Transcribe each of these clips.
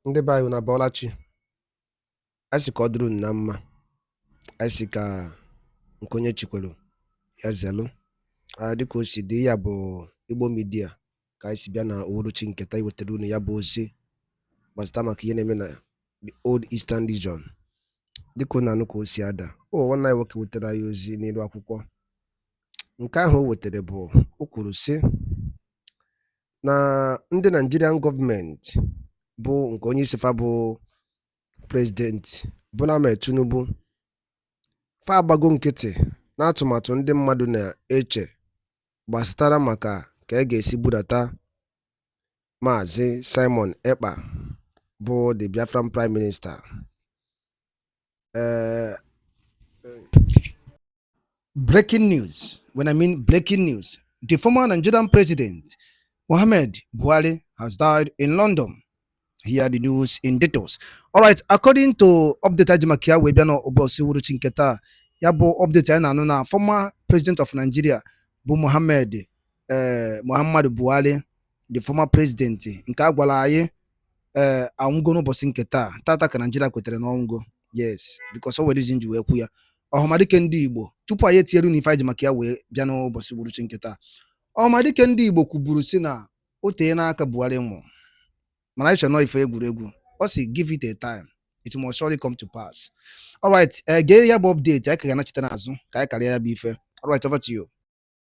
ndị be anyị unu abọọla chi anyị si ka ọ dịrị unu na mma anyị si ka nke onye chikwelu ya zelu dịka o si dị ya bụ Igbo midia ka anyị si bịa na uhuruchi nke taa iwetara unu ya bụ ozi gbasịta maka ihe na-eme na the old eastern region dịka unu na-anụ ka o si ada ọ nwanne anyị nwoke wetara anyị ozi n'elu akwụkwọ nke ahụ o wetara bụ o kwuru sị na ndị Naịjirian gọọmenti bụ nke onye isi fa bụ President Bola Ahmed Tinubu fa agbago nkịtị n'atụmatụ ndị mmadụ na-eche gbasatara maka ka e ga-esi bulata Maazị Simon Ekpa bụ the Biafran Prime Minister uh, breaking news. When I mean breaking news, the former Nigerian president, Mohammed Buhari, has died in London. Hear the news in details. All right, according to update anyị ji maka ya wee bịa n'ụbọsị uhuruchi nke taa, ya bụ update anyị na-anụ na former president of Nigeria bụ Mohammed eh, Muhammadu Buhari the former president nke a gwara anyị ee eh, anwụgo n'ụbọchị nke taa tata ka Naijiria kwetere na ọ nwụgo yes because o nwere reason m ji wee kwu ya ọhamadike ndị Igbo tupu anyị etinyere unu ife anyị ji maka ya wee bịa n'ụbọchị uhuruchi nke taa ọhamadike ndị Igbo kwuburu sị na o teena aka Buhari nwụ mana anyị chee na ọ ife egwuregwu ọ sị give it a time it must surely come to pass alright eh, gee ya bụ update anyị ka ga-anachite n'azụ ka anyị karịa ya bụ ife alright over to you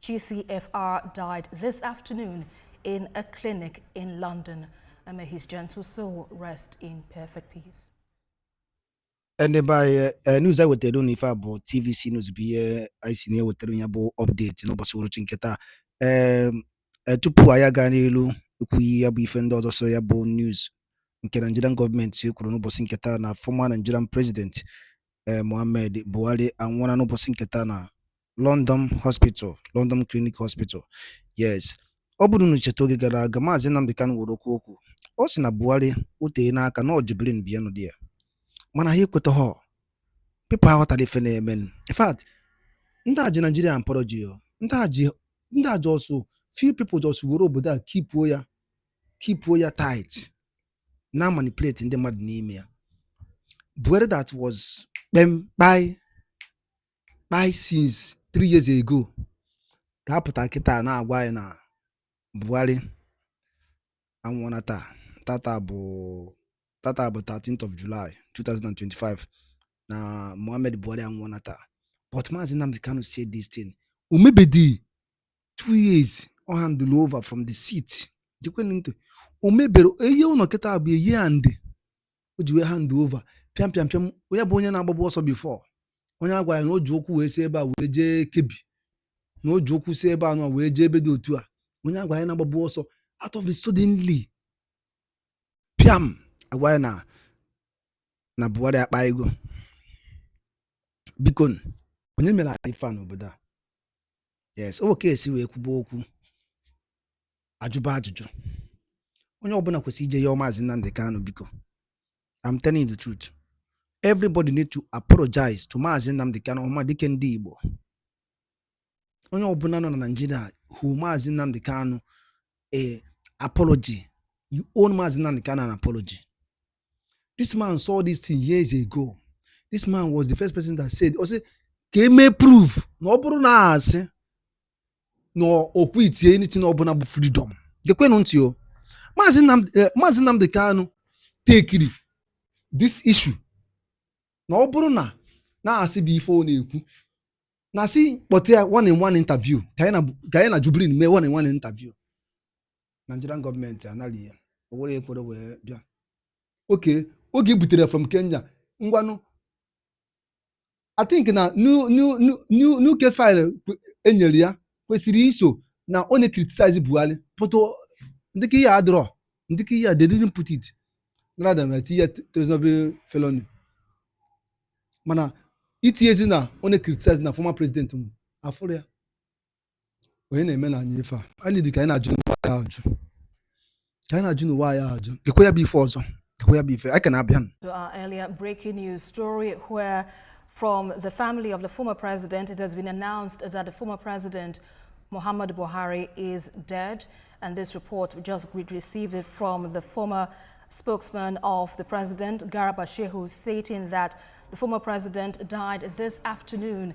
GCFR died this afternoon in a clinic in London. And may his gentle soul rest in perfect peace. ndị be anyị eh, news a wetara unu ife a bụ tvc news bụ ebe anyị si na-ewetara ya bụ update n'ụbọchị uruchi nke taa ee ehm, eh, tupu anyị aga n'iru ikwu ya bụ ife ndị ọzọ so ya bụ news nke Nigerian gọọmenti kwuru n'ụbọchị nke taa na former Nigerian president eh, Mohammed Buhari anwụọla n'ụbọchị nke taa na London Hospital London Clinic Hospital yes ọ bụrụ na i cheta oge gara aga maazị Nnamdi Kanu nwere okwu o kwu ọ sị na Buhari o teena aka na ọ Jubrin bụ onye dị ya mana ha ekwetaha people aghọtarọ ife na-eme in fact ndị a ji Naijiria mkpọrọ ji ya ndị a just few people just were obodo a kipuo ya kipuo ya tight na-amanipulate ndị mmadụ n'ime ya Buhari that was kpem kpai kpai since three years ago ka a pụta kịta na-agwa anyị na Buhari anwụọna taa tata bụ tata bụ 13th of July 2025 na Muhammad Buhari anwụọna taa but Maazị Nnamdi Kanu said this thing o mebedi two years ọ handle over from the seat gekwenụ ntị o mebere a year ọ nọ kịta bụ a year and o ji wee hand over pịam pịam pịam onye bụ onye na-agbabu ọsọ before onye a gwara na o ji ụkwụ wee si ebe a wee jee Kebbi na o ji ụkwụ si ebe a nọ wee jee ebe dị otu a onye a gwara ya na-agbabu ọsọ out of the suddenly pịam agwa anyị na Buhari akpaigo biko onye mere anyị ife a n'obodo a yes ọ ebe a ka esi wee kwuba okwu ajụba ajụjụ onye ọbụna kwesịrị ije yọọ maazị Nnamdi Kanu biko I'm telling you the truth everybody need to apologize to maazị Nnamdi Kanu Ọhamadike ndị Igbo onye ọbụna nọ na Naịjirịa owe maazị Nnamdi Kanu an apology you own maazị Nnamdi Kanu an apology this man saw this thing years ago this man was the first person that said ọ sị ka e mee proof na ọ bụrụ na asị na ọ quitie anything ọbụna bụ freedom gekwenụ ntị o maazị Nnamdi eh, maazị Nnamdi Kanu tekiri this issue na ọ bụrụ na asị bụ ife ọ na-ekwu na a sị kpọta ya one in one interview ka nya na Jubrin mee one in one interview Nigerian government anali ya o were ekwere wee bịa oke oge e butere from Kenya ngwanụ I think na new new new new new case file kwe- enyere ya kwesịrị iso na ọ na-criticize Buhari but ndịka ihe adịrọ ndịka ihe a they didn't put it nara da na tinye treasonable felony mana itinyezi na ọ na-criticize na former president m afụrọ ya onye na-eme na anyị ife a anyị dị ka anyị na-ajụ n'ụwa ya ajụ ka anyị na-ajụ n'ụwa ya ajụ gekwa ya bụ ife ọzọ gekwa ya bụ ife anyị ka na-abịa To our earlier breaking news story where from the family of the former president it has been announced that the former president Muhammad Buhari is dead and this report we just received it from the former spokesman of the president Garba Shehu stating that the former president died this afternoon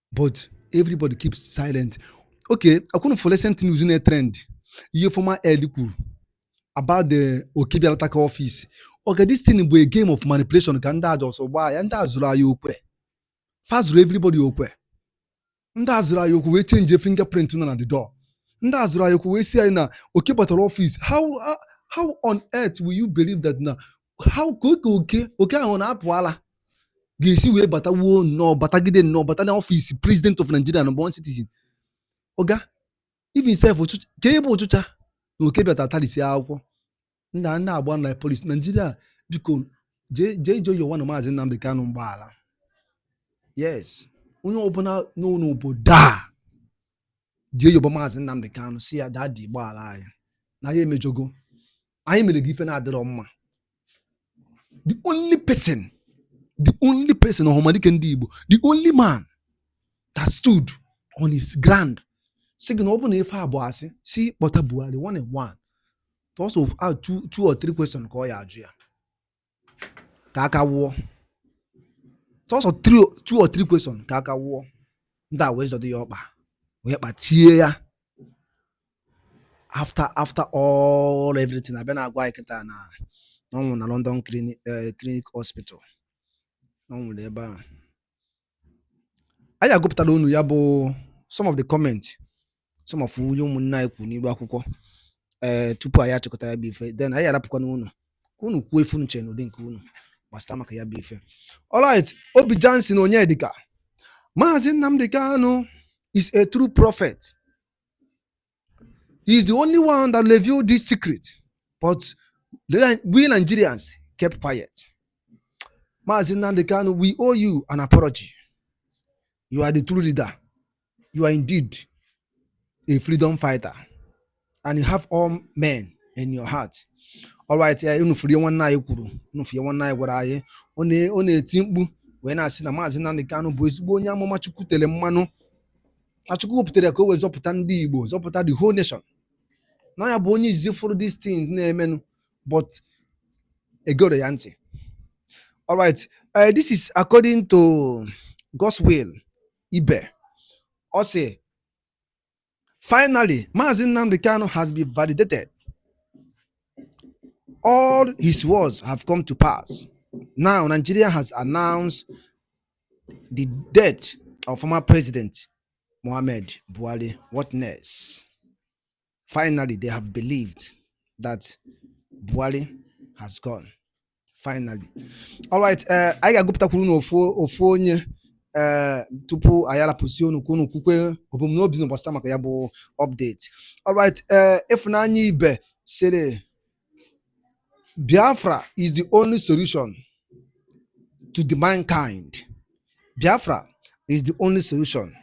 but everybody keep silent okay ọ kwa unu fụlụ recent news na-trend ihe former aide kwuru about the oke bịala takaa office oga this thing bụ a game of manipulation ka ndị aja ọsọ gbaa ya ndị a zụrụ anyị okwe fa zụrụ everybody okwe ndị a zụrụ anyị okwe wee change fingerprint nọ na the door ndị a zụrụ anyị okwe wee sị anyị na oke batara office how how on earth will you believe that na how ka oke oke oke ahụ na-apụ ala ga-esi wee batawuo nnọọ batagide nnọọ bata na ọfịs president of Nigeria na one citizen oga even sef ka ebe ụchụcha na oke bịa tarisie akwụkwọ nna nna agba na polis Nigeria biko jee jee jee yọwanụ maazị Nnamdi Kanu mgbaghara yes onye ọbụla n'obodo a jee yọba maazị Nnamdi Kanu sị ya daddy gbaghara anyị na anyị emejọgo anyị mere gị ife na-adịrọ mma the only person the only person ọhamadike ndị Igbo the only man that stood on his ground sị gị na ọ bụ na ife a bụ asị sị kpọta Buhari one on one sọsọ two, two or three questions ka ọ ya-ajụ ya ka aka wụọ sọsọ two or three question ka aka wụọ ndị a wee zọdụ ya ọkpa wee kpachie ya after after all everything a bịa na-agwa anyị kịta na ọ nwụrụ na London eh, Clinic Hospital ọ nwụrụ ebe ahụ anyị agụpụtara unu ya bụ some of the comment some of ife ụmụnne anyị kwuru n'iru akwụkwọ ee eh, tupu anyị achịkọta ya bụ ife then anyị arapụkwana unu ka unu kwuo ife unu chere n'ụdị nke unu gbasịta maka ya bụ ife alright Obi Johnson Onyedika Maazị Nnamdi Kanu is a true prophet He's the only one that revealed this secret. But we Nigerians kept quiet. Maazị Nnamdi Kanu, we owe you an apology. You are the true leader. You are indeed a freedom fighter. And you have all men in your heart. All right, eh, unu fụrụ ife nwanne anyị kwuru, unu fụrụ ife nwanne anyị gwara anyị, ọ na-eti mkpu wee na-asị na Maazị Nnamdi Kanu bụ ezigbo onye amụma Chukwu tere mmanụ na Chukwu wepụtara ka o wee zọpụta ndị Igbo zọpụta the whole nation na ya bụ onye izizi fụrụ these things na-emenụ but egerọ ya ntị all right uh, this is according to Godswill Ibe ọ sị finally Maazị Nnamdi Kanu has been validated all his words have come to pass now Nigeria has announced The death of former President Mohammed Buhari, what next? Finally, they have believed that Buhari has gone. Finally. All right, uh, anyị ga-agụpụtakwuru unu ofu onye uh, tupu anyị arapụzie unu ka unu kwukwe ebumnobi unu gbasịta maka ya bụ update. All right, uh, Ifunanya Ibe sịrị Biafra is the only solution to the mankind. Biafra is the only solution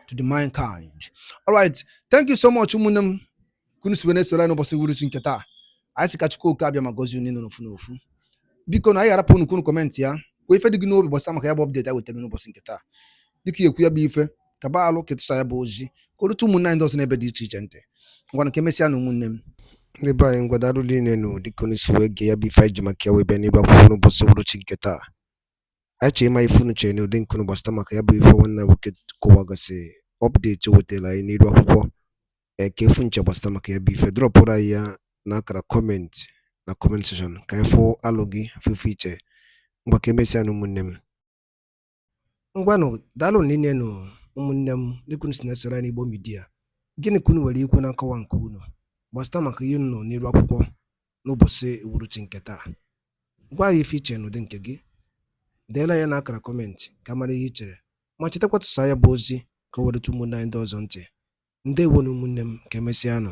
to the mankind. All right. Thank you so much, ụmụnne m ka unu si wee na-esoro anyị n'ụbọchị uhuruchi nke taa. Anyị si ka Chukwu Okike Abịama gọzie unu n'ofu n'ofu. Biko na anyị ga-arapụ unu ka unu kọmentị ya. Kwuo ife dị gị n'obi gbasara maka ya bụ update a wetara n'ụbọchị nke taa. Dịka ekwu ya bụ ife kaba alụ ka ị tụsa ya bụ ozi ka o rute ụmụnne anyị ndị ọzọ n'ebe dị iche iche ntị ngwanụ ka emesịa nụ ụmụnne m ndị be anyị ngwa daalụ niile nụ dịka unu si wee gee ya bụ ife anyị ji maka ya wee bịa n'ebe akwụkwọ n'ụbọchị uhuruchi nke taa anyị chọrọ ịma ife unu chere n'ụdị nke unu gbasata maka ya bụ ife nwanne nwoke kọwagasị update o wetara anyị n'iru akwụkwọ kee ife unu che gbasata maka ya bụ ife drọpụrụ anyị ya n'akara comment na comment section ka anyị fụ alo gị fụ ife i che ngwa ka emesịa nụ ụmụnne m ngwanụ daalụ niile nụ ụmụnne m dịka unu si na-esoro anyị n'Igbo Media gịnị ka unu nwere ikwu na nkọwa nke unu gbasata maka ihe unu nụ n'iru akwụkwọ n'ụbọchị uhuruchi nke taa gwa anyị ife i che n'ụdị nke gị deela ya n'akara comment ka a mara ihe i chere ma chetakwa tụsa ya bụ ozi ka o wee rute ụmụnne anyị ndị ọzọ ntị ndewo nụ ụmụnne m ka emesịa nụ